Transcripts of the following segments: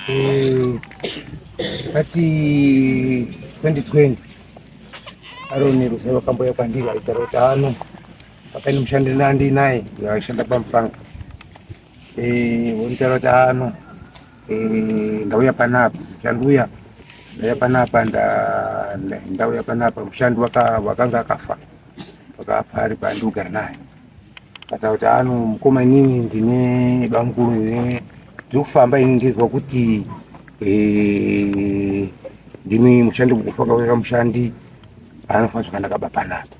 Eh, ati 2020 aroni rusa vakamboya kwandiri aitara kuti ano pakaini mushandi nandi naye aishanda pamupanga eh, voitaura kuti ano eh, ndauya panapa mushandi uya ndauya panapa ndauya panapa mushandi wakanga akafa pakapari pandogara naye kata kuti ano mukoma inini ndine bamukuru ine ndikufamba ini ndizwa kuti eh, ndimi mushandi mukufa kauyira mushandi anofana zvakanaka bapanata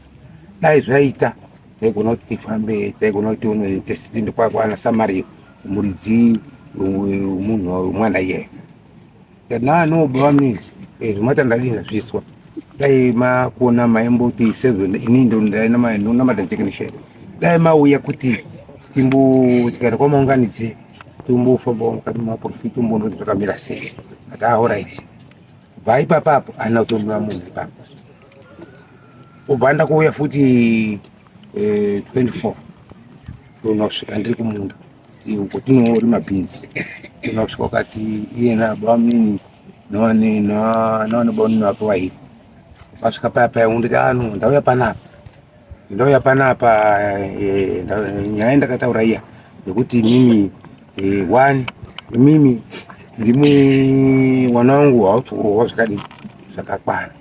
dai zvaita taigona kuti tifambe taigona kuti unoitesitindi kwakwana samari muridzi munhu mwana iyeyo Kana no bami eh zvimata ndadini ndazviswa. Dai makuona maimboti sezvo ini ndo ndaina mai nona matajekeni shele. Dai mauya kuti timbo tikada kwamaunganidze timbofambawo mukati memaprofit umboona kuti zvakamira sei. Ati ah alright. Bva ipapa apo ana kutombira munhu ipapa. Ubva ndakuuya futi eh 24 ndonosvika ndiri kumunda. Kotinoorima beans inosvika wakati iye nabamini navane navanobaunini vako vairi vasvika paya paya unditi ano ah, ndauya panapa ndauya panapa eh, nyaya ndakataura iya yekuti mimi eh, one mimi ndimwe mwana wangu hautsikurova zvakadii zvakakwana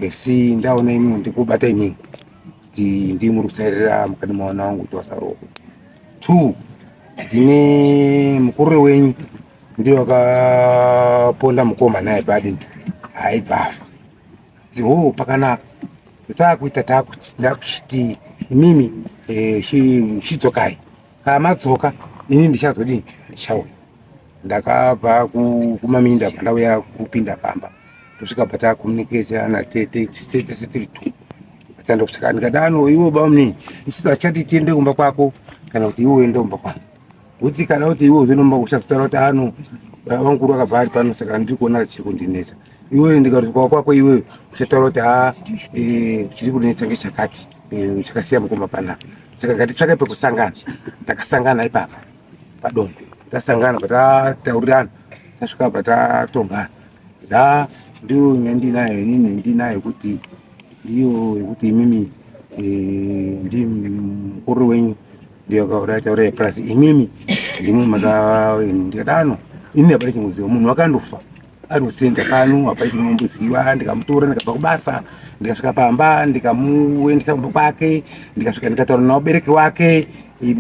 Esi ndaona imi ndikubata imi kuti ndii muri kusairira mukati mwana wangu kuti wasaroko two ndine mukurure wenyu ndiye wakaponda mukoma naye badi haibvafa ho pakanaka taakuita taakuchiti imimi eh, chidzokai Kana madzoka ini ndichazodini? Ndichauya. Ndakabva kumaminda pandauya kupinda pamba kusvika patakomuniketa natete tete setiri two tanda kusvika ndikadano iwe bamni isito achati tiende kumba kwako kana kuti iwe uende kumba kwangu kuti kana kuti iwe uzenomba kuchazotara kuti ano baba vangu vakabva ari pano saka ndiri kuona chiri kundinetsa iwe ndikati kwako kwako iwe uchataura kuti ha eh, chiri kundinetsa ngechakati Eh, chakasiya mukoma panapa saka ngatitsvake pekusangana takasangana ipapa padongo tasangana patataurirana tasvika patatombana da ndiyo nyaya ndinayo inini ndinayo kuti ndiyo yekuti imimi eh, ndi mukuru wenyu ndiyo kaurataura yepurasi imimi ndimwe makaendekadano ini hapana chimuziva munhu wakandofa Anosenza pano hapa ichinomboziva ndikamutora ndikabva kubasa ndikasvika pamba ndikamuendesa kumba kwake ndikasvika ndikataura nawabereki wake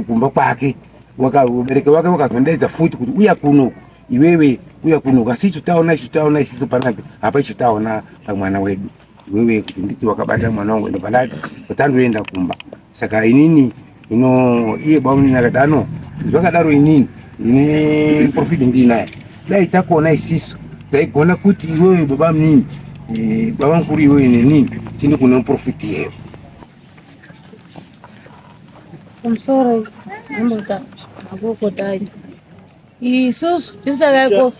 kumba kwake wakabereki wake wakazondaidza futi kuti uya kuno iwewe uya kuno asi ichitaona ichitaona isiso panapa hapa ichitaona pamwana wedu wewe kuti nditi wakabata mwana wangu ende pandati patandoenda kumba saka inini ino iye bamunini akati ano zvakadaro inini ndine profit ndiinaye dai takuona isisu taigona kuti iwewe baba mnini eh, baba mkuru iwewe nenini tindi kune profit yeyo I'm sorry. I'm not that. I'm not that. isusu tisakaiko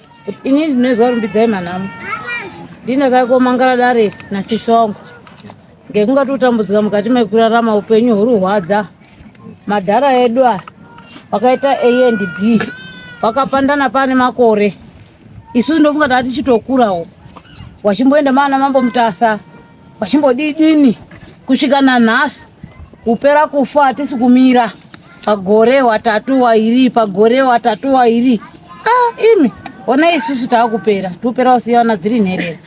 ini ndinoziva rumbidzai manhamo ndinakaiko mangara dare nasisi wangu ngekunga totambudzika mukati mekurarama upenyu hurihwadza madhara edu aya wakaita a and b wakapandana pane makore isusu ndofunga taa tichitokurawo wachimboenda maana mambo mutasa Vachimbodidini kusvika nanhasi kupera kufa hatisi kumira pagore watatu wairi pagore watatu wairi ah, imi ona isusu taakupera tupera usiyana dziri nherera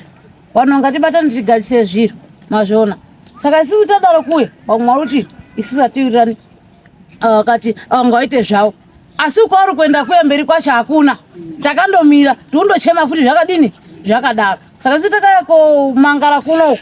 vanhu ngatibatane tigadzise zviro mazviona saka isusu tadaro kuwe vamwe vari kuti isusu atiwirirani ah, vakati ah, vanga vaite zvavo asi kwauri kuenda kuya mberi kwacho hakuna takandomira tikundochema futi zvakadini zvakadaro saka si takaya komangara kuno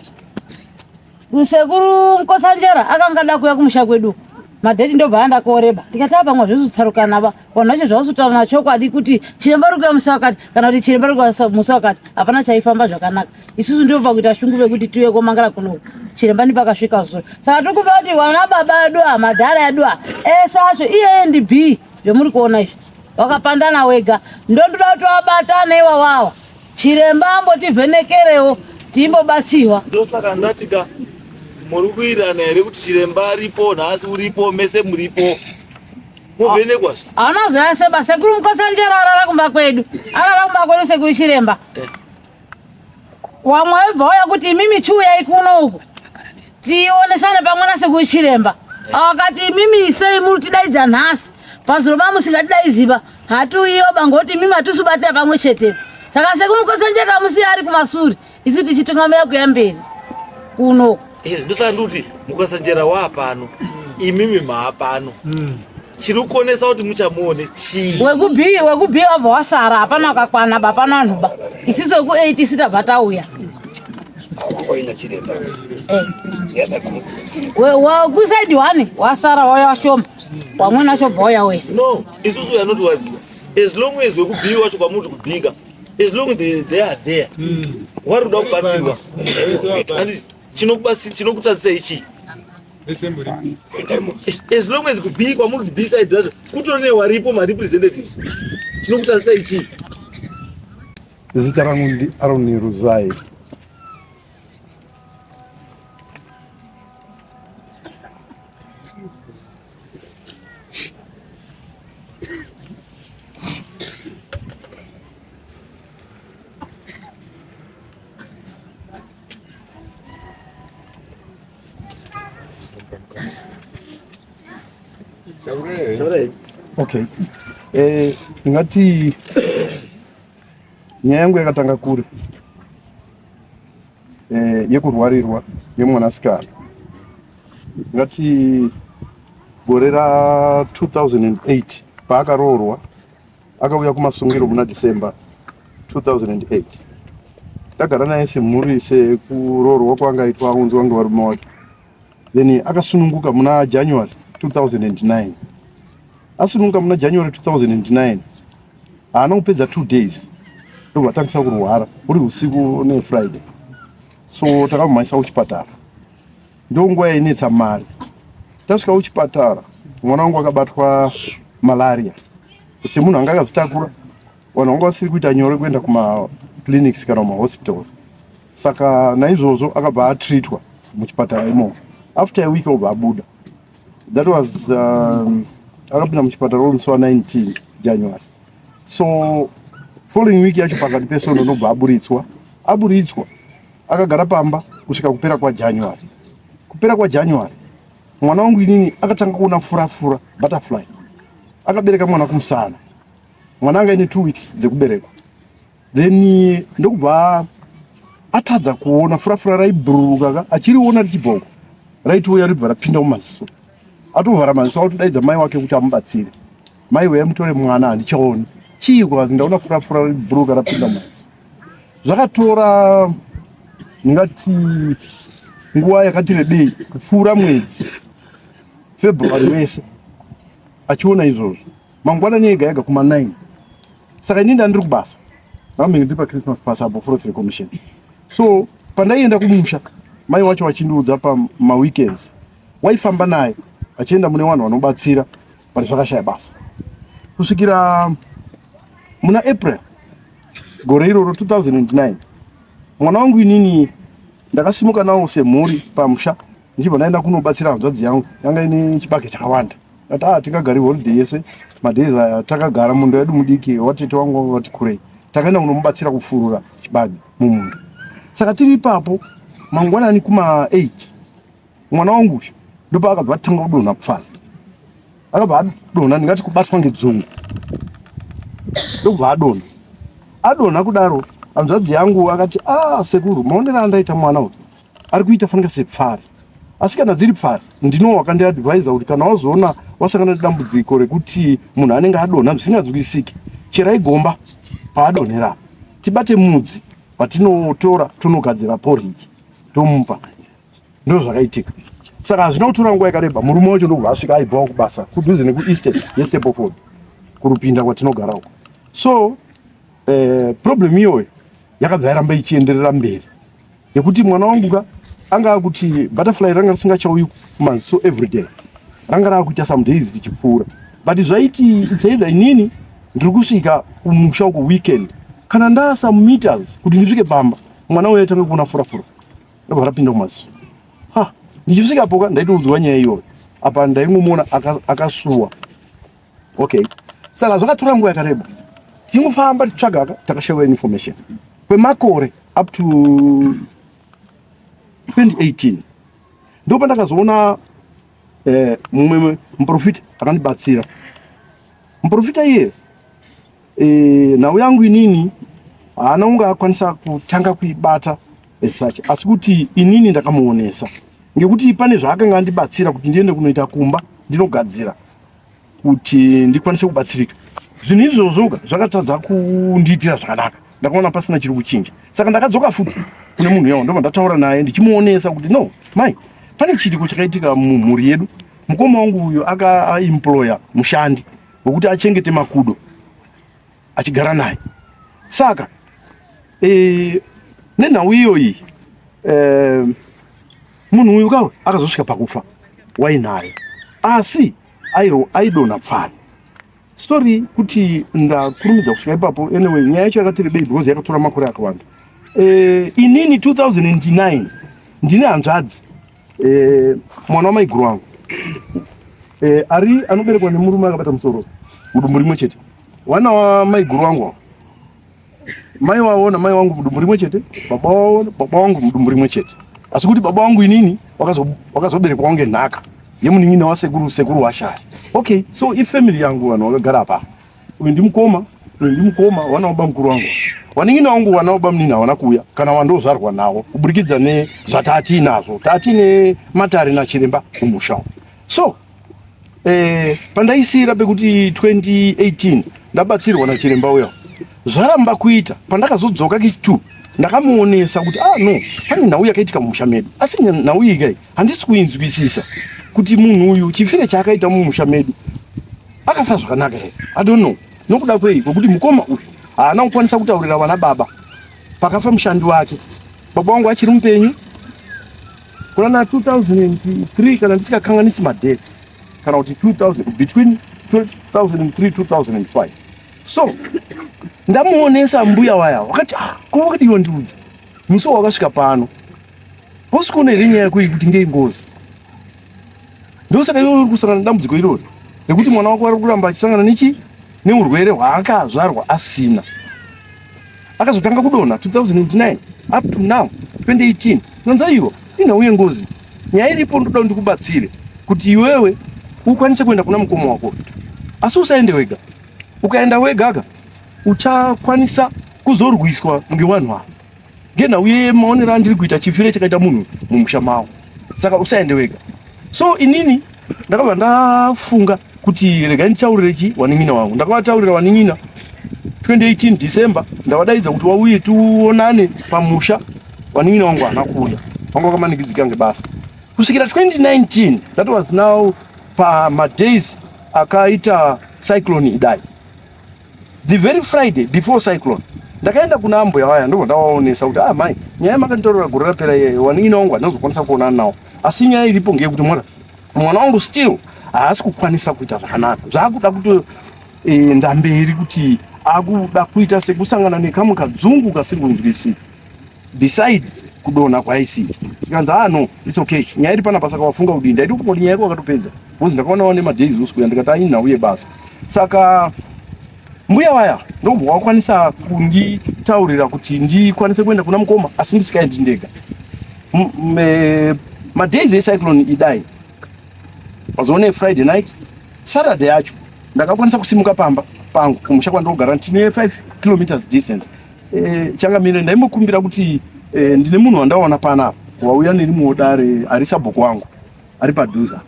rusekuru mukotsanjera akanga ada kuya kumusha kwedu madheti ndobva anda koreba tikati apamwa zvesu tsarukana va vanhu vacho zvavasutaura nachokwadi kuti chiremba rikuya musi wakati kana kuti chiremba rikuya musi wakati hapana chaifamba zvakanaka isusu ndivo pakuita shungu vekuti tiuye komangala kuno chiremba ndipakasvika zuro saka tiri kuva kuti wana baba edu a madhara edu a ese acho iyeye ndi b zvemuri kuona izvi wakapandana wega ndondoda kuti wabatana iwawawa chiremba ambotivhenekerewo timbobatsirwa ndosaka ndatika muri kuirana here kuti chiremba aripo nhasi uripo mese muripo muvhenekwa zve hauna zoya seba sekuru mukosanjero arara kumba kwedu arara kumba kwedu sekuru chiremba eh. Wamwe webva waya kuti imimi chiuyai kuno uku tionesane pamwe nasekuru chiremba akati imimi isei muri tidaidza nhasi pazuro mamusingatidaiziva hatiuyoba ngokuti imimi hatisubatira pamwe chete saka sekumukotsanjeka musiya ari kumasuri isu tichitungamira kuya mberi kuno eh, ndosandikuti mukotsanjera waapano imimi maapano mm. chiri kuonesa kuti muchamuone chii wekubii wekubii wabva wasara hapana wakakwana ba hapana vanhu ba isiso weku eight isu tabva tauya wekusaidi eh. one wasara wauya washoma wamwena wacho bva wauya wese no isusu we are not worried as long as wekubii wacho kwamuti kubika as long they, they are there mm. wari kuda kubatsirwa chinokubatsira chinokutsadzisa ichii as long as kubikwa muri beside zvacho kutori newaripo marepresentatives chinokutadzisa ichii zita rangu ndi aroni ruzai Okay. Eh, ngati nyaya yangu yakatanga kure eh, yekurwarirwa yemwanasikana ngati gore ra 2008 paakaroorwa Akauya kumasungiro muna December 2008. Tagara naye semhuri sekuroorwa kwanga aitwa aunzwa ngevarume wake. Then akasununguka muna January 2009. Asununguka muna January 2009. Haana kupedza two days ndobva atangisa kurwara uri usiku ne Friday. So takamumhanyisa kuchipatara. ndonguva yainetsa mari tasvika kuchipatara mwana wangu akabatwa malaria semunhu anga akazvitakura vanhu vanga vasiri kuita nyore kuenda kumaclinics kana kumahospitals saka naizvozvo akabva atreatwa muchipatara imo after a week obva abuda that was um, akapinda muchipatara uri musi wa 19 january so following week yacho pakati pesono ndobva aburitswa aburitswa Akagara pamba kusvika kupera kwaJanuary. Kupera kwaJanuary mwana wangu inini akatanga kuona furafura butterfly. Akabereka mwana kumusana. Mwana anga ine two weeks dzekuberekwa. Then eh, ndokubva atadza kuona furafura raibhururuka ka achiriona richibhoko raitouya ribva rapinda mumaziso atovhara maziso autodaidza mai wake kuti amubatsire mai weyamutore mwana handichaoni chii kwazi ndaona furafura ribhururuka rapinda mumaziso Zvakatora ndingati nguva yakati rebei kupfuura mwedzi February wese achiona izvozvo mangwanani ega ega kuma 9 saka ini ndandiri kubasa ndamenge ndiri pachristmas pass apo forest recommission so pandaienda kumusha mai wacho vachindiudza pamaweekends waifamba naye achienda mune vanhu vanobatsira but zvakashaya basa kusvikira muna april gore iroro 2009 mwana wangu inini ndakasimuka nawo semhuri pamusha ndichibva ndaenda kunobatsira hanzvadzi yangu yanga ine chibage chakawanda ati a ah, tingagari holiday yese madays aya takagara munda yedu mudiki watete wangu wanga vati kurei takaenda kunomubatsira kufurura chibage mumunda saka tiri ipapo mangwanani kuma 8 mwana wangu uyu ndopaakabva atanga kudonha pfana akabva adonha ndingati kubatwa ngedzungu ndokubva adonha adonha kudaro hanzvadzi yangu akati a ah, sekuru maonero andaita mwana uyu ari kuita fanika sepfari asi kana dziri pfari ndino wakandiadvisa kuti kana wazoona wasangana nedambudziko rekuti munhu anenge adonha zvisinganzwisiki cherai gomba paadonhera tibate mudzi patinotora tonogadzira poriji tomupa ndozvakaitika saka hazvina kutora nguva yakareba murume wacho ndokubva asvika aibvawo kubasa kudhuze nekueastern yestepofod kurupinda kwatinogara uko so eh, problem iyoyo yakabva yaramba ichienderera mberi yekuti mwana wangu ka anga akuti butterfly ranga risingachauyi kumanzi so every day ranga raakuita some days richipfuura but zvaiti itsaida inini ndiri kusvika kumusha uko weekend kana ndasa meters kuti ndisvike pamba mwana uyo aitanga kuona furafura ndobva rapinda kumasi ha ndichisvika poka ndaitoudzwa nyaya iyoyo apa ndaingomuona akasuwa okay saka zvakatora nguva yakareba tichingofamba tichitsvaga ka takashaiwa information kwemakore up to 2018 ndopa ndakazoona eh, mumwe muprofita akandibatsira muprofita iye e, nhau yangu inini haana kunge akwanisa kutanga kuibata as such asi kuti inini ndakamuonesa ngekuti pane zvaakanga andibatsira kuti ndiende kunoita kumba ndinogadzira kuti ndikwanise kubatsirika zvinhu izvozvoka zvakatadza kundiitira zvakanaka ndakaona pasina chiri kuchinja saka ndakadzoka futi kune munhu yawo ndobva ndataura naye ndichimuonesa kuti no mai pane chiitiko chakaitika mumhuri yedu mukoma wangu uyo akaemploya mushandi wekuti achengete makudo achigara naye saka e, nenhau iyoyi e, munhu uyu kawe akazosvika pakufa wainayo asi airo aidonha pfana sorry kuti ndakurumidza kusvika ipapo anyway nyaya yacho yakati rebei because yakatora makore akawanda e, inini 2009 ndine hanzvadzi Eh, mwana wamaiguru wangu eh, ari anoberekwa nemurume akabata musoro mudumbu rimwe chete wana wamaiguru wangu mai wavo namai wangu mudumbu rimwe chete baba wavo baba wangu mudumbu rimwe chete asi kuti baba wangu inini wakazoberekwa wange nhaka yemunin'ina wasekuru sekuru washaya okay so ifamily yangu vanhu vakagara apa Uyu ndimukoma, uyu ndimukoma wana baba mukuru wangu. Waningi na wangu wana baba mnini hawana kuuya kana wandozvarwa nawo kuburikidza ne zvatati nazvo. Tati ne matari na chiremba kumusha. So eh pandaisira pekuti 2018 ndabatsirwa na chiremba uya. Zvaramba kuita pandakazodzoka kitu ndakamuonesa kuti ah no pane nhau yakaitika mumusha medu asi nhau iyi kai handisi kuinzwisisa kuti munhu uyu chifire chaakaita mumusha medu akafa zvakanaka here i don't know nokuda kwei kwekuti mukoma uyu haana kukwanisa kutaurira vana baba pakafa mushandi wake baba wangu achiri mupenyu kuna na 2003 kana ndisikakanganisi madate kana kuti 2000 between 2003 2005 so ndamuonesa mbuya waya wakati ah, kuvakadiwa ndiudza Musi wakasvika pano hausi kuona here nyaya yako kuti ngei ngozi ndosaka iwe uri kusangana nedambudziko irori nekuti mwana wako ari kuramba achisangana nechi neurwere hwaakazvarwa asina akazotanga kudonha 2009 up to now 2018 nanza ivo inhau yengozi nyaya iripo ndoda ndikubatsire kuti iwewe ukwanise kuenda kuna mukoma wako asi usaende wega ukaenda wegaka uchakwanisa kuzorwiswa ngevanhu ava ngenhau yemaonero andiri kuita chifiro chakaita munhu mumusha mavo saka usaende wega so inini ndakabva ndafunga kuti regai nditaurire chi wanin'ina wangu ndakavataurira wanin'ina 2018 december ndavadaidza kuti wauye tionane pamusha wanin'ina wangu hana kuuya vanga vakamanikidzika ngebasa kusvikira 2019 that was now pamadays akaita cyclone idai the very Friday before cyclone ndakaenda kuna ambuya vaya ndobva ndavaonesa kuti ah mai nyaya makanditorera gore rapera iye waningina wangu handinozokwanisa kuonana nawo asi nyaya iripo ngeyekuti mwana mwana wangu still haasi kukwanisa kuita zvakanaka zvaakuda kuti e, ndamberi kuti akuda kuita sekusangana nekamwe kadzungu kasingonzwisiki beside kudonha kwaisi zvikanzi ah no its okay nyaya iri panapa saka wafunga kudii ndaiti kungoti nyaya yako wakatopedza bcause ndakaona wane madays uskuya ndikati anyi nhau yebasa saka mbuya waya ndokubva wakwanisa kunditaurira kuti ndikwanise kuenda kuna mukoma asi ndisikaendi ndega e, madays ecyclone idai mazoona efriday night saturday yacho ndakakwanisa kusimuka pamba pangu kumusha kwandogara tine 5 kilometers distance Eh, changamire ndaimbokumbira kuti eh, ndine munhu wandaona pana wauya nerimwewo dare ari sabhuku wangu ari padhuza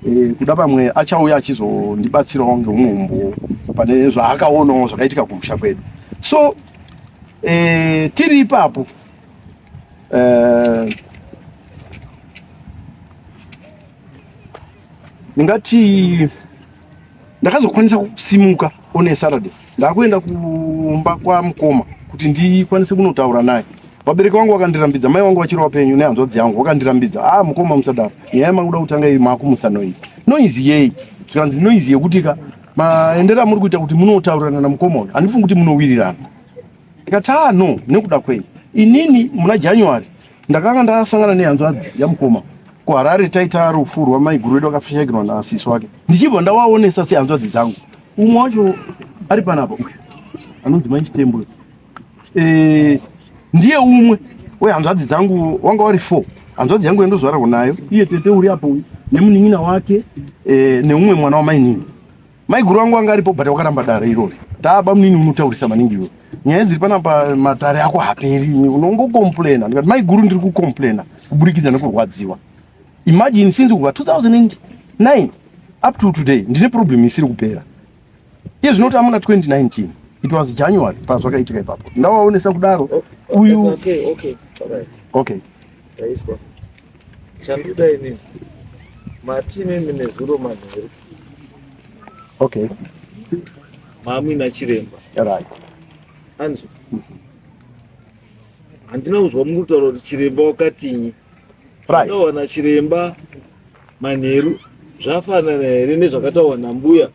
eh, kuda pamwe achauya achizondibatsirawo ngeumwe umbowo pane zvaakaonawo zvakaitika kumusha kwedu so eh, tiri ipapo eh, ndingati ndakazokwanisa kusimuka on a Saturday ndakuenda kumba kwamukoma kuti ndikwanise kunotaura naye. Vabereki vangu vakandirambidza, mai wangu vachiri vapenyu nehanzvadzi yangu vakandirambidza, ah, mukoma musadaro, nyaya makuda kutanga iyi makumutsa noise. Noise yei? Zvikanzi noise yekuti ka maendero amuri kuita kuti munotaurirana namukoma uyu handifungi kuti munowirirana. Ndikati ah no, nekuda kwei? Inini muna January Ndakanga ndasangana nehanzvadzi yamukoma kuharare taita rufu rwamaiguru wedu akafishakirwa naasisi wake ndichibva ndawaonesa sehanzvadzi dzangu umwe wacho ari panapa uyu anonzi mai chitembo e, ndiye umwe wehanzvadzi dzangu wanga wari four hanzvadzi yangu yandozvararwa nayo iye tete uri apo uyu nemunin'ina wake e, neumwe mwana wamainini Maiguru wangu anga aripo but wakaramba dare irori. Taa bamnini unotaurisa maningi iwe. Nyaya dziri pana pa matare ako haperi. Unongo complaina. Ndikati maiguru ndiri ku complaina kuburikidza nekurwadziwa. Imagine since kubva 2009 up to today ndine problem isiri kupera. Iye zvinoti amuna 2019. It was January pazvakaitika ipapo. Ndawaonesa kudaro. Oh, Uyu okay, okay. All right. Okay. Raiswa. Chanduda ini. Mati mimi nezuro manheru. Okay. Mami na chiremba. Right. Anzwa. Handina kuzwa mukutaura kuti chiremba wakatinyi. Right. Tawana chiremba manheru zvafanana here nezvakatawa nambuya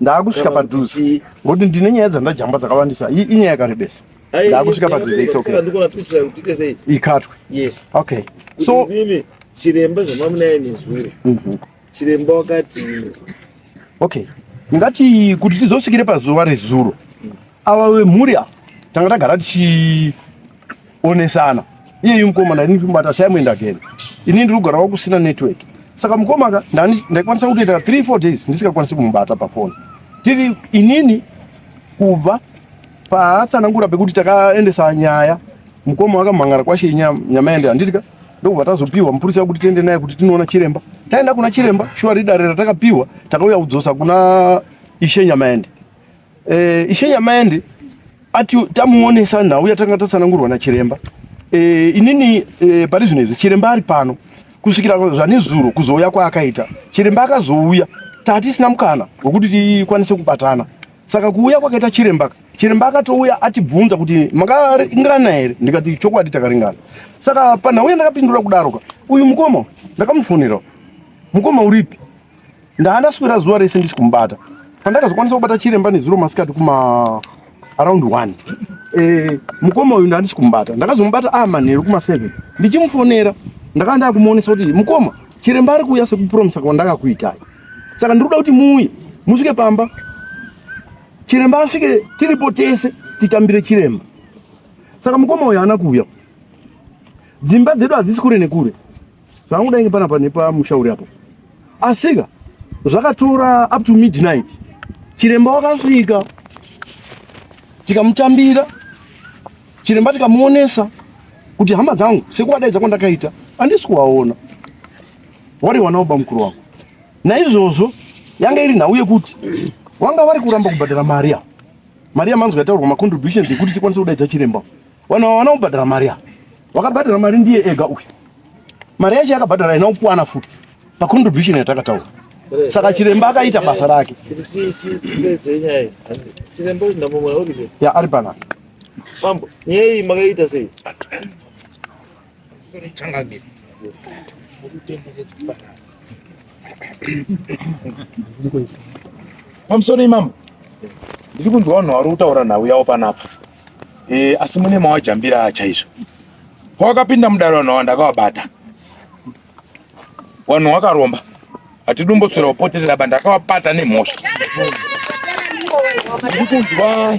Ndakusvika padhuze. Ngokuti ndine nyaya dzandajamba dzakawandisa. Iyi inyaya yakarebesa. Ndakusvika padhuze it's okay. Ndikona tutsira kuti tese iyi. Ikatwe. Yes. Okay. So mimi chiremba zvamamunaye nezuro. Mhm. Chiremba wakati Okay. Ngati kuti tizosvikire pazuva rezuro. Ava vemhuri ava tanga tagara tichionesana. Iye mukomana ini ndikubata shame and again. Ini ndiri kugara wakusina network. Saka mukomaka ndani ndaikwanisa kutoita 3 4 days ndisikakwanisi kumubata pa phone. Tiri inini kubva paatsanangura pekuti takaendesa nyaya mukoma wakamhangara kwashe nyama yende handitika ndokubva tazopiwa mupurisa wekuti tiende naye kuti tinoona chiremba taenda kuna chiremba shuwa ridare ratakapihwa takauya kudzosa kuna ishe nyama yende Eh, ishe Nyamaende ati tamuonesa nhau yatanga tatsanangurwa nachiremba. Eh, inini eh, pari zvino izvi chiremba ari pano kusvikira zvanezuro kuzouya kwaakaita. Chiremba akazouya tatisina mukana wekuti tikwanise kubatana. Saka kuuya kwakaita chiremba, chiremba akatouya atibvunza kuti makaringana here? Ndikati chokwadi takaringana. Saka panhau yandakapindura kudaroka, uyu mukoma ndakamufonera. Mukoma uripi? Ndaandaswera zuva rese ndisi kumubata. Pandakazokwanisa kubata chiremba nezuro masikati kuma around 1. Eh, mukoma uyu ndandisi kumubata. Ndakazomubata a ah, manheru kuma 7. Ndichimufonera ndakanda kumuonesa kuti mukoma chiremba ari kuuya sekupromisa kwandakakuitai. Saka ndiri kuda kuti muuye musvike pamba. Chiremba asvike tiripo tese titambire chiremba. Saka mukoma uyu haana kuuya. Dzimba dzedu hadzisi kure nekure. zvangu kudai ngepanapa nepamusha uri apo asika zvakatora up to midnight chiremba wakasvika tikamutambira chiremba tikamuonesa kuti hama dzangu sekuwadaidza kwandakaita andisi kuwaona wari wana woba mukuru wako naizvozvo yanga iri nhau yekuti wanga wari kuramba kubhadhara mari ya mari yamanzwa yataurwa macontributions ekuti tikwanise kudaidza chiremba Wana wana ubhadhara mari ya. Wakabhadhara mari ndiye ega uyu. Mari yacho yakabhadhara ina ukwana futi. Pa contribution yatakataura. Saka chiremba akaita basa rake. Chiremba uyu ndamumwe uri. Ya ari pana. Mambo, nyei makaita sei? Changamire. Pamusoro imambo. Ndiri kunzwa vanhu vari kutaura nhau yavo panapa. Eh, asi mune mawajambira chaizvo. Pawakapinda mudare vanhu awa ndakawabata. Wanhu wakaromba. Hatidumbotsira upoterera ba ndakawabata nemhosva. Ndikunzwa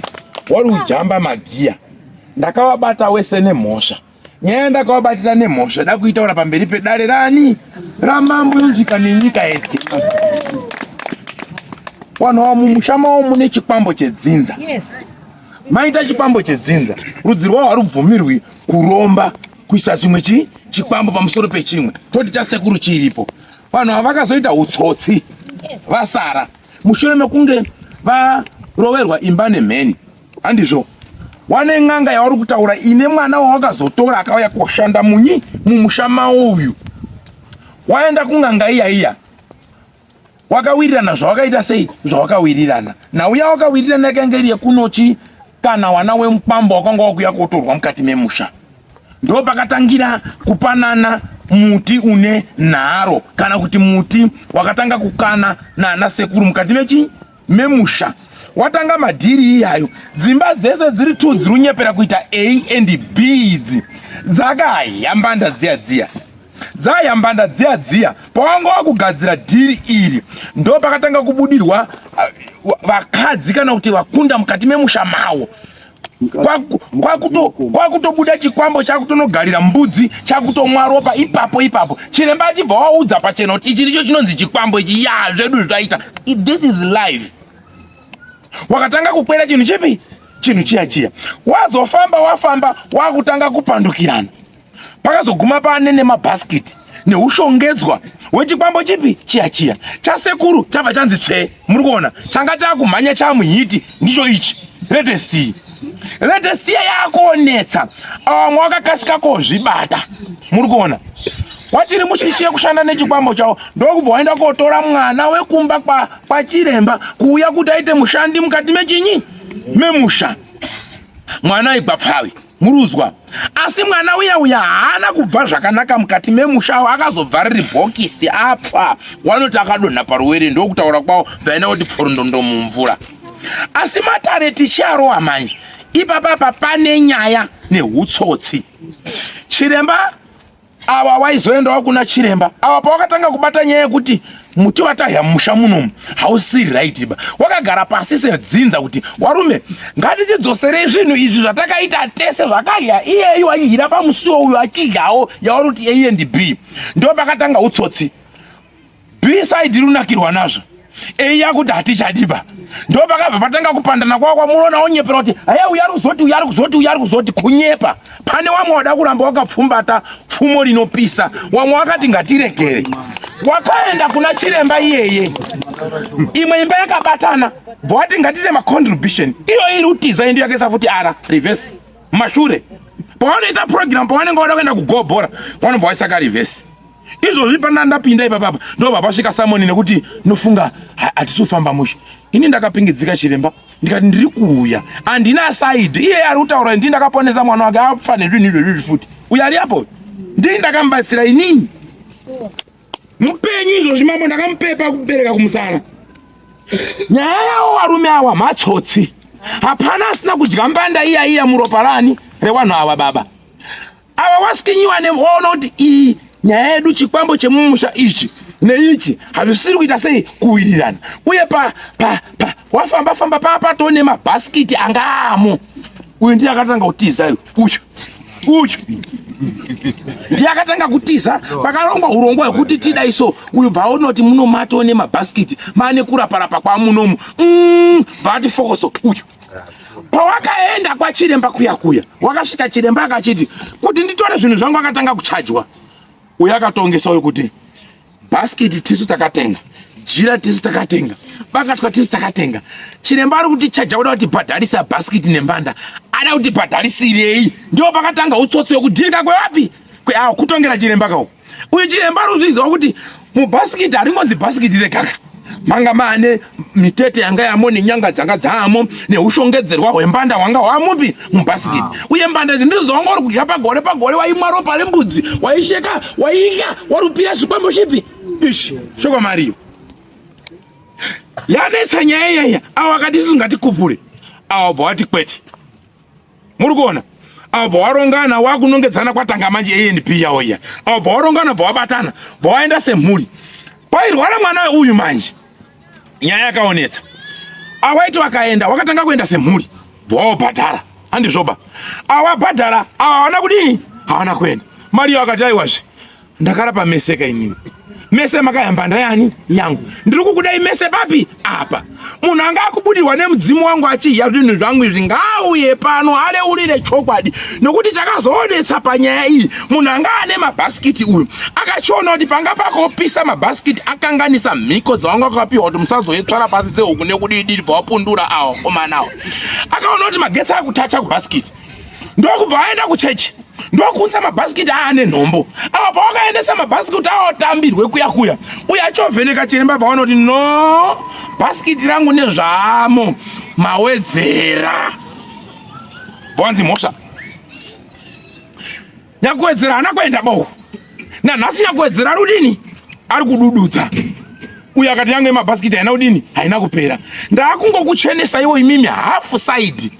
wari ujamba magiya. Ndakawabata wese nemhosva. Nyaya yandakawabatira nemhosva da kuitaura pamberi pedare rani ramambo yonzwika nenyika yese. Wanhu wa mumusha mawo mune chikwambo chedzinza. Yes. Maita chikwambo chedzinza. Rudzi rwawo harubvumirwi kuromba kuisa chimwe chi chikwambo pamusoro pechimwe. Toti cha sekuru chiripo. Vanhu ava vakazoita utsotsi vasara mushure mekunge varoverwa imba nemheni. handizvo wane n'anga yauri kutaura ine mwana wawakazotora akauya koshanda munyi mumusha mawo uyu waenda kun'anga iya iya wakawirirana zvawakaita sei zvawakawirirana nauya wakawirirana yakange iri yekunochi kana wana wemukwambo wakanga wakuya kotorwa mukati memusha ndo pakatangira kupanana muti une nharo kana kuti muti wakatanga kukana nana sekuru mukati mechi memusha watanga madhiri iyayo dzimba dzese dziri two dziri kunyepera kuita a and b idzi dzakayambanda dziya dziya dzayambanda dziya dziya pawanga wakugadzira dhiri iri ndo pakatanga kubudirwa uh, vakadzi kana kuti vakunda mukati memusha mawo kwakutobuda chikwambo chakutonogarira mbudzi chakutomwa ropa ipapo ipapo chiremba achibva waudza pachena kuti ichi ndicho chinonzi chikwambo ichi ya zvedu zvaita this is live wakatanga kukwera chinhu chipi chinhu chiya chiya wazofamba wafamba wakutanga kupandukirana pakazoguma pane nemabhasikiti neushongedzwa wechikwambo chipi chiya chiya chasekuru chabva chanzi tsvee muri kuona changa chakumhanya chamuhiti ndicho ichi retestii retestia yakonetsa vamwe wakakasika kozvibata muri kuona watiri mushishiye kushanda nechikwambo chavo ndokubva waenda kotora mwana wekumba kwachiremba kuuya kuti aite mushandi mukati mechinyi memusha mwana aigwa pfavi Muruzwa. Asi mwana uya uya haana kubva zvakanaka mukati memusha awo akazobva riri bhokisi apfa wanoti akadonha paruwere ndokutaura kwawo vaina kuti pforondondomo mumvura. Asi matare tichiarowa manje ipapapa pane nyaya nehutsotsi. Chiremba awa waizoendawo kuna chiremba awa pawakatanga kubata nyaya yekuti muti watahya mumusha munomu hausi right ba wakagara pasi sedzinza kuti warume ngatichidzoserei zvinhu izvi zvatakaita tese zvakahya iyeyu waihira pamusiwo uyu achidyawo yawaruti a and b ndo pakatanga utsotsi beside runakirwa nazvo eiya kuti hatichadiba ndo pakabva patanga kupandana kwakwa munoona onyepera kuti haya uya ruzoti uya ruzoti uya ruzoti kunyepa pane wamwe wada kuramba wakapfumbata pfumo rinopisa wamwe wakati ngatiregere wakaenda kuna chiremba iyeye imwe imba yakabatana bvowati ngatiite macontribution iyo iri utiza endo yakaisa futi ara reverse mashure pawanoita program pawanenge wada kuenda kugobhora wanobva waisaka reverse izvozvi pana ndapinda ipapapa ndobva pasvika samoni nekuti nofunga hatisi kufamba mushe ini ndakapingidzika chiremba ndikati ndiri kuuya handina saidi iye ari kutaura ndii ndakaponesa mwana wake afa nezvinhu izvozvizvi futi uyo ari apo ndii ndakamubatsira inini mupenyu izvozvi mambo ndakamupepa kubereka kumusana nyaya yawo varume awa matsotsi hapana asina kudya mbanda iya iya muropa rani rewanhu awa baba ava wasikinyiwa nevoona kuti iyi nyaya yedu chikwambo chemumusha ichi neichi hazvisiri kuita sei kuwirirana uye pa pa pa wafamba famba paa patoo nemabhasikiti anga amo uyu ndiye akatanga kutiza uyu uyu ndiye akatanga kutiza pakarongwa urongwa hwekuti tidai so uyu bvaonoti munomatoo nemabhasikiti maane kuraparapa kwamunomu mm, bvaati fokoso uyu pawakaenda kwachiremba kuya kuya wakasvika chiremba akachiti kuti nditore zvinhu zvangu akatanga kuchajwa uyo akatongesa uyo kuti bhaskiti tisu takatenga jira tisu takatenga bakatwa tisu takatenga chiremba ari kuti chaja kuda kuti bhadharisa bhaskiti nembanda ada kuti bhadharisirei ndiwo pakatanga utsotsi wekudhirika kwevapi kweawo kutongera chiremba kauko uyu chiremba ari kuzviziva kuti mubhasikiti haringonzi bhasikiti rekaka manga maane mitete yanga yamo nenyanga dzanga dzaamo neushongedzerwa hwembanda hwanga hwamupi mubhasikiti ah. uye mbanda idzi ndidzo dzawanga uri kudya pagore pagore waimwa ropa rembudzi waisheka waidya warupira zvikwambo chipi ishi shoko mariyo yanetsa nyaya yaiya awo akati isu ngatikupure awo bva wati kwete muri kuona avo bvawarongana wakunongedzana kwatanga manje anp yawo iya avo bvawarongana bvawabatana bvawaenda semhuri pairwara mwana uyu manje nyaya yakaonetsa awaiti wakaenda wakatanga kuenda semhuri bvawabhadhara handizvoba awabhadhara awa hawana kudii hawana kuenda mari iyo akati aiwazve Ndakarapa mese ka inini. Mese makayamba ndayani yangu. Ndiri kukudai mese papi? Apa. Munhu anga akubudirwa nemudzimu wangu achiya zvinhu zvangu izvi ngauye pano aleurire chokwadi nokuti chakazoonetsa panyaya iyi munhu anga ane mabhasikiti uyu akachiona kuti panga pakopisa mabhasikiti akanganisa mhiko dzavanga akapiwa kuti musazouye tsvara pasi dzehuku nekudii diri bva wapundura awa komanawo akaona kuti magetsi akutacha kubhasikiti ndokubva aenda kuchechi ndokuunza mabhasikiti aane nhombo apa pawakaendesa mabhasikiti aotambirwe kuya kuya uye achovheneka chiremba bvaona kuti no bhasikiti rangu nezvaamo mawedzera bvanzi mhosva Nyakuwedzera haana kuenda bohu nanhasi. Nyakuwedzera ari kudini? Ari kudududza uyo akati yangu yemabhasikiti haina kudini, haina kupera. Ndaakungokuchenesaiwo imimi hafu saidi,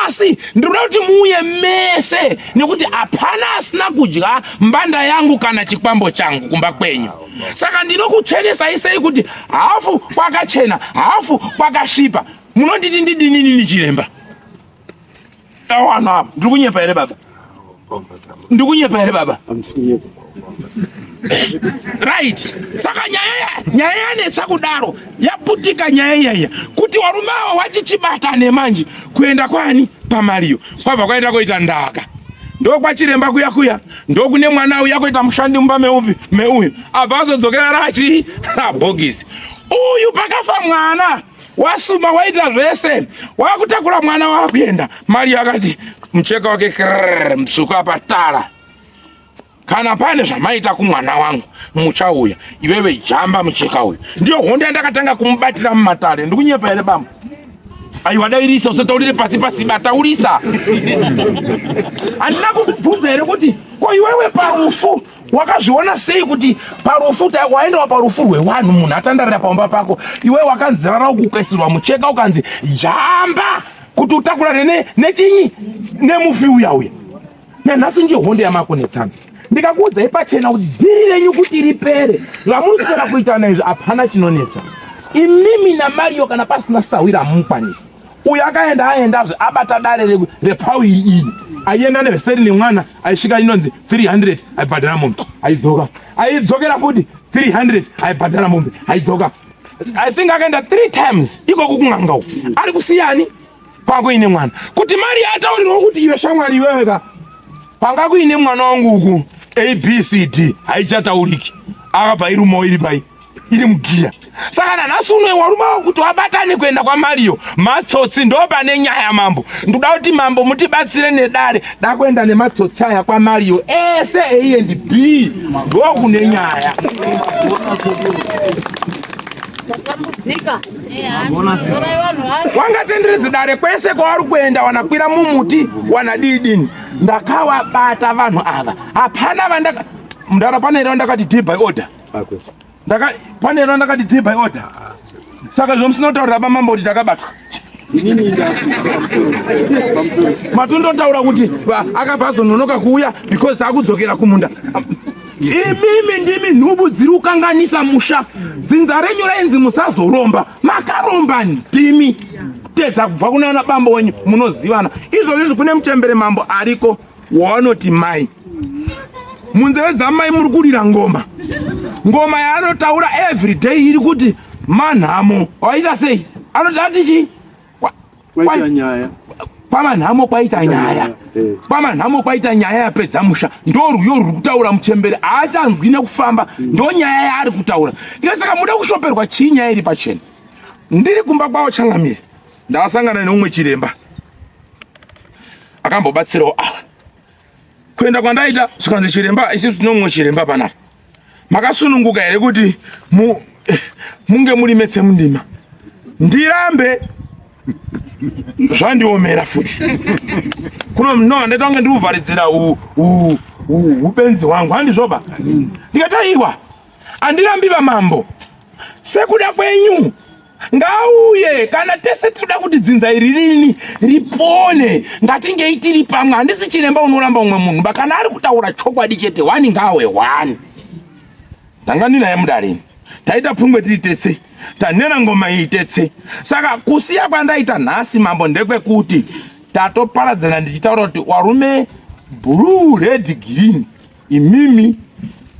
asi ndinoda kuti muuye mese, nekuti hapana asina kudya mbanda yangu kana chikwambo changu kumba kwenyu. Saka ndinokuchenesai sei kuti hafu kwakachena hafu kwakasvipa? Munonditi ndidinini chiremba? Awana, ndiri kunyepa here baba? Ndiri kunyepa here baba? Right. Saka nyaya nyaya yanetsa kudaro yaputika nyaya iyaya kuti warume avo wachichibata nemanje kuenda kwani pamariyo kwabva kwaenda koita ndaka ndokwachiremba kuya kuya ndokune mwana uya kuita mushandi mumba meupi meuyu abva azodzokera rachi rabhokisi uyu pakafa mwana wasuma waita zvese wakutakura mwana wakuenda mari yakati mucheka wake krrr msuku apa tara kana pane zvamaita kumwana wangu muchauya iwewe jamba mucheka uyu ndiyo hondo yandakatanga kumubatira mumatare ndikunyepa here bamba aiwa dairisa usataurire pasi pasi bataurisa handina kukubvunza here kuti ko iwewe parufu Wakazviona sei kuti parufu waendawa parufu rwewanhu munhu atandarira pamba pako iwe wakanzirara ukukwesirwa mucheka ukanzi jamba kuti utakurane nechinyi nemufi uya uya nanhasi nje hondo yamakonetsana ndikakuudzai pachena kuti dhiri renyu kuti ripere vamuri kutoda kuitana izvi hapana chinonetsa imimi namario kana pasina sahwira hamumukwanisi uyu akaenda aendazve abata dare repfau iri iri aienda neveseri nemwana aisvika inonzi 300 aibhadhara mombe aidzoka aidzokera futi 300 aibhadhara mombe aidzoka i think akaenda three times ikoku kun'anga uku ari kusiyani kwanga kuine mwana kuti mari yaataurirwa kuti iwe shamwari iwewe ka kwanga kuine mwana wangu uku abcd haichatauriki akabva irumawo iri pai iri mugiya saka nanhasi unoe warume wakuti wabatane kuenda kwamariyo matsotsi ndo pane nyaya mambo ndoda kuti mambo mutibatsire nedare dakuenda nematsotsi aya kwamariyo ese a and b ndo kune nyaya wangatenderedzi dare kwese kwavari kuenda wanakwira mumuti wanadidini ndakawabata vanhu ava hapana vandaka mndara pane here vandakati d by order akwete ndaka pane rona ndakati dhi by order saka zvomusina kutaurira pamambo kuti takabatwa matondotaura kuti akabva azononoka kuuya because akudzokera kumunda imimi ndimi nhubu dziri kukanganisa musha dzinza renyu rainzi musazoromba makaromba ndimi tedza kubva kunaana bambo wenyu munozivana izvozvizvi kune muchembere mambo ariko yeah. waanoti mai munzeve dzamai muri kurira ngoma ngoma yaanotaura every day iri kuti manhamo waita sei anoda tichi kwamanhamo kwaita nyaya kwamanhamo kwaita nyaya yapedza musha ndorwiyo ruri kutaura muchembere haachanzwi nekufamba mm. ndonyaya yaari kutaura ika saka muda kushoperwa chii nyaya iri pachena ndiri kumba kwavo changamire ndasangana neumwe chiremba akambobatsirawo ava kuenda kwandaita zvikanzi chiremba isisu tinomumwe chiremba panapa makasununguka here kuti mu, eh, munge muri metse mundima ndirambe zvandiomera futi kuno no handaita kunge ndikuvharidzira upenzi hwangu handizvoba ndikataiwa Andirambi vamambo, sekuda kwenyu ngauye kana tese tinoda kuti dzinza iri rini ripone ngatingei tiri pamwe handisi chiremba unoramba umwe munhu ba kana ari kutaura chokwadi chete wani ngaawe wani ndanga ndinaye mudarini taita pfungwe tiri tese tanera ngoma iyi tese saka kusiya kwandaita nhasi mambo ndekwekuti tatoparadzana ndichitaura kuti warume blue red green Imimi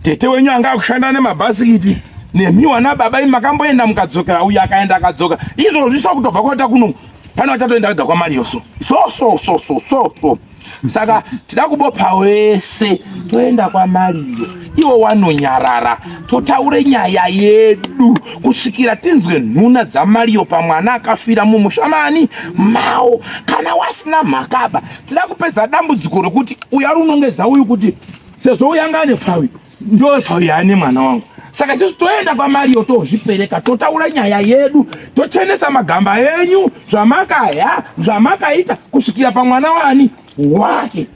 tete wenyu anga akushanda nemabhasikiti nemi wana baba imi makamboenda mukadzokera uyu akaenda akadzoka izvozvi so kutobva kwaita kuno pane vachatoenda vega kwamari yoso so so so so so so saka tida kubopa wese toenda kwamariyo iwo wanonyarara totaure nyaya yedu kusvikira tinzwe nhuna dzamariyo pamwana akafira mumushamani mawo kana wasina mhakaba tida kupedza dambudziko rokuti uyo ari unongedza uyu kuti sezvo uyo anga ane pfawi ndo pfawi yaane mwana wangu saka sisi toenda kwamariyo tozvipereka totaura nyaya yedu tochenesa magamba enyu zvamakaya zvamakaita kusvikira pamwana wani wake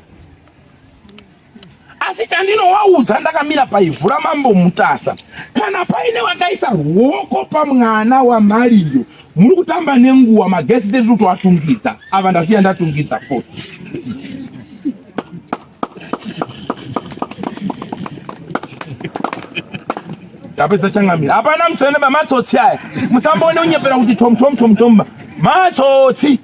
asi chandinowaudza ndakamira paivhu ramambo mutasa kana paine vakaisa ruoko pamwana wamariyo muri kutamba nenguva magesi tiri kuti watungidza ava ndasiya ndatungidza fo tapedza changamira hapana mutsvene bamatsotsi aya musamboone unyepera kuti tomtomtomtomba matsotsi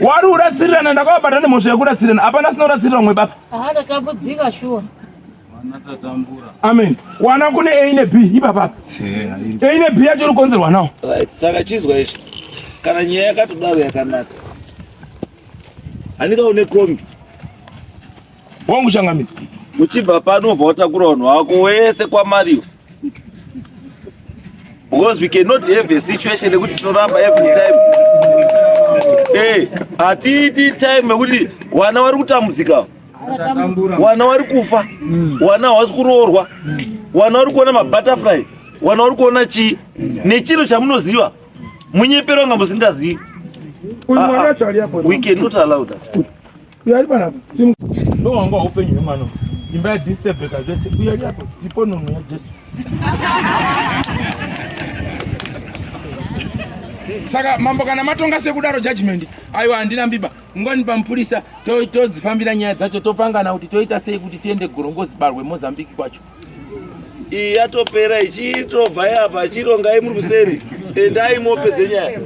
wari uratsirirana ndakavabatane mhosva yekuratsirirana hapana sinoratsirira mwe bapa Aha tatambudzika shuwa. Amen. Wana kune A ne B ipapa. A ne B yacho inokonzerwa nawo. Right. Saka chizwa izvi. Kana nyaya yakatodaro yakanaka. Anika une kombi. Wangu changamira. Uchibva pano ubva watakura vanhu wako wese kwaMario. because we cannot have a situation yekuti tinoramba every time eh, hatiiti time yekuti wana wari kutambudzika wana wari kufa wana hawasi kuroorwa wana wari kuona mabutterfly wana wari kuona chii nechiro chamunoziva munyepero nga musingazivi ah, ah. we cannot allow that uyari panapa ndo wanga upenyu hwemwana imba yadistebeka zvese uyari apo ipo nono yajesu saka mambo kana matonga sekudaro judgment aiwa handina mbiba ngoni pamupurisa todzifambira nyaya dzacho topangana kuti toita sei kuti tiende gorongozi barwe mozambique kwacho iyi yatopera ichitobva yapa chirongai muri kuseri endai mope dzenyaya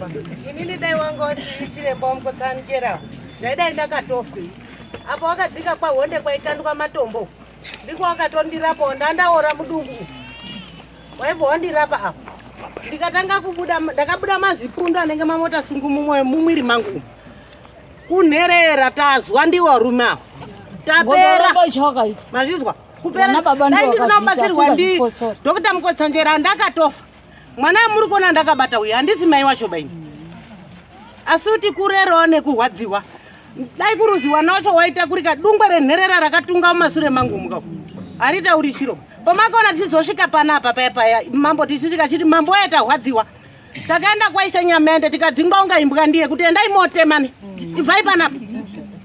inini dai wanga usiri chiremba wamukosanjera zvaidai ndakatofa apo wakadzika kwahonde kwaikandwa matombo ndiko wakatondirapo ndandaora mudumbu waibva wandirapa apo ndikatanga kubuda ndakabuda mazipundu anenge mamota sungu mumwiri mangu kunherera tazwa ndiwo rume apo tapera mazvizwa kuperaandisinakubatsirwa ndi dr mukotsanjera andakatofa mwana amuri kuona ndakabata uyu handisi mai wacho baini asi kuti kurerawo nekurwadziwa dai kuruziwa nacho waita kuri kadungwe renherera rakatunga mumasure mangu muka haritauri chiro pomakaona tichizosvika pana apa paya paya mambo tichisvika chiti mambo waya tahwadziwa takaenda kwaisa nyamende tikadzingwa unga imbwa ndiye kuti endai motemani ibvai panapa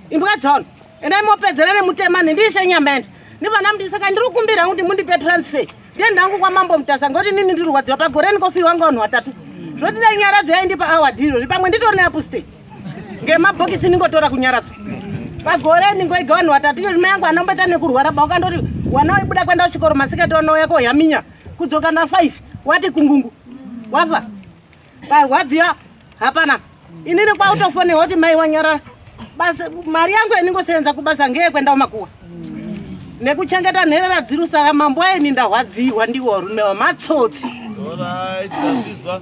imbwa dzaona endai mopedzera nemutema nendiise nyamanda nevana mudii saka ndiri kukumbira kuti mundipe transfer ndiende hangu kwamambo mutasa ngoti nini ndiri rwadziwa pagore ndikofiwa nga vanhu vatatu zvoti dai nyaradzo yaindipa awa dhiro ri pamwe nditori neapuste ngemabhokisi ndingotora kunyaradzo pagore ndingoiga vanhu vatatu iyo rima yangu anomboita nekurwara ba ukandoti wana waibuda kuenda kuchikoro masikati wanouya kohaminya kudzoka na five wati kungungu wafa Parwadziwa hapana. Inini kwautofone hoti mai wanyarara. Basi mari yangu yaningosenza kubasa ngeye kwenda umakuwa. Nekuchengeta nherera dzirusa ramambo aye nindahwadziwa ndiwo varume vamatsotsi. All right,